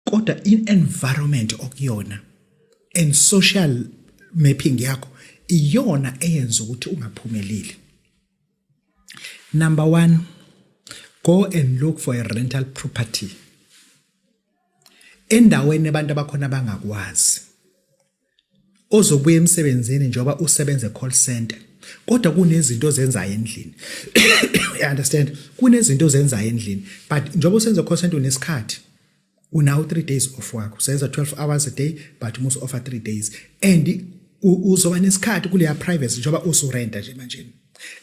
kodwa in environment okuyona and social mapping yakho iyona eyenza ukuthi ungaphumeleli number 1 go and look for a rental property endaweni abantu abakhona bangakwazi ozobuya emsebenzini njengoba usebenza e-call center kodwa kunezinto ozenzayo endlini you understand kunezinto ozenzayo endlini but njengoba usenza e-call center unesikhathi unawo 3 days off wakho usenza 12 hours a day but umusa offer 3 days and uzoba nesikhathi kuleya privacy njengoba usurenta nje manje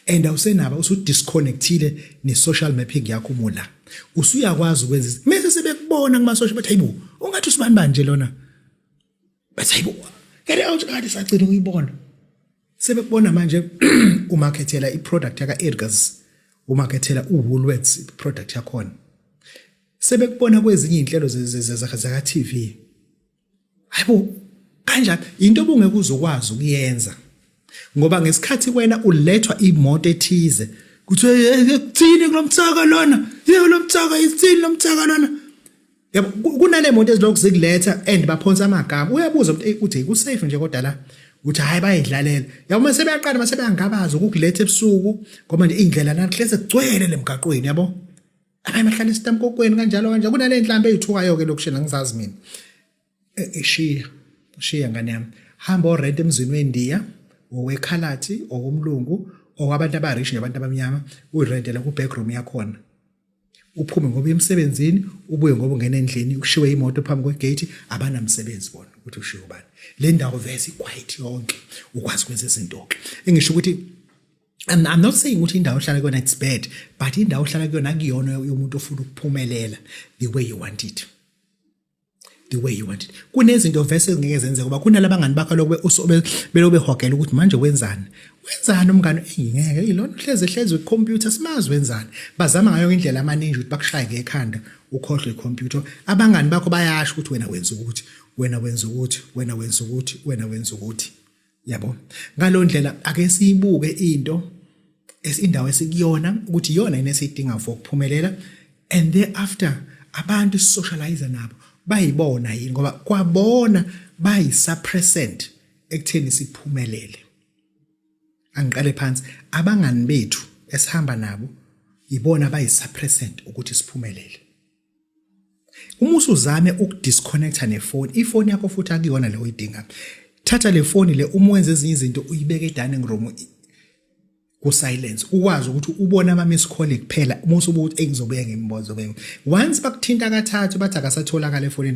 and awusenaba usudisconnectile ne-social mapping yakho mula usuyakwazi ukwenza mese sebekubona kuma-social bathi hayibo ungathi usibani banje lona bathi hayibo get out kade sagcina ukuyibona sebekubona manje umarkethela iproduct yaka Edgars umarkethela uWoolworths product yakhona sebekubona kwezinye izinhlelo zaka TV hayibo kanjani into obungeke uzokwazi ukuyenza ngoba ngesikhathi wena ulethwa imoto ethize kuthiwa kuthini kulomthaka lona yebo lomthaka isithini lomthaka lona yabo kunanemoto ezilokhu zikuletha and baphonsa amagama uyabuza ukuthi uthi ku safe nje kodwa la uthi hayi bayidlalela yabo uma sebeyaqala uma sebeyangabaza ukukuletha ebusuku ngoba nje indlela nahleze kugcwele lemgaqweni yabo abaye bahlala esitamkokweni kanjalo kanjalo kunale nhlamba ezithukayo ke lokushela ngizazi mina eshiya e, ushiya ngane yami hamba orent emzini wendiya owekhalathi okumlungu okwabantu abarish nabantu abamnyama uyirentela ku backroom yakhona uphume ngoba emsebenzini ubuye ngoba ungena endlini ukushiwe imoto phambi kwegate abanamsebenzi bona ukuthi ushiwe ubani le ndawo vese quiet yonke ukwazi ukwenza izinto ke engisho ukuthi I'm, I'm not saying ukuthi indawo ohlala kuyona it's bad but indawo ohlala kuyona akuyona yomuntu ofuna ukuphumelela the way you want it the way you want it kunezinto vese ezingeke zenzeke ngoba kunalaba ngani bakho lokube usobe belobe hogela ukuthi manje wenzani wenzani umngane ngeke ilona uhleze hleze kwicomputer simazi wenzani bazama ngayo indlela amaninja ukuthi bakushaye ngekhanda ukhohlwe icomputer abangani bakho bayasho ukuthi wena wenza ukuthi wena wenza ukuthi wena wenza ukuthi wena wenza ukuthi yabo ngalondlela ake siyibuke into esindawo esikuyona ukuthi iyona yini esiyidinga for ukuphumelela and thereafter abantu sisocialize nabo bayibona yini ngoba kwabona bayisuppressant ekutheni siphumelele angiqale phansi abangani bethu esihamba nabo yibona bayisuppressant ukuthi siphumelele uma usuzame ukudisconnecta nefoni ifoni yakho futhi akuyona le oyidinga thatha le foni le uma wenza ezinye izinto uyibeke edining room kusilence ukwazi ukuthi ubone ama miss call kuphela uma usubuthi engizobuye ngimbozo once bakuthinta kathathu bathi akasatholakala efonini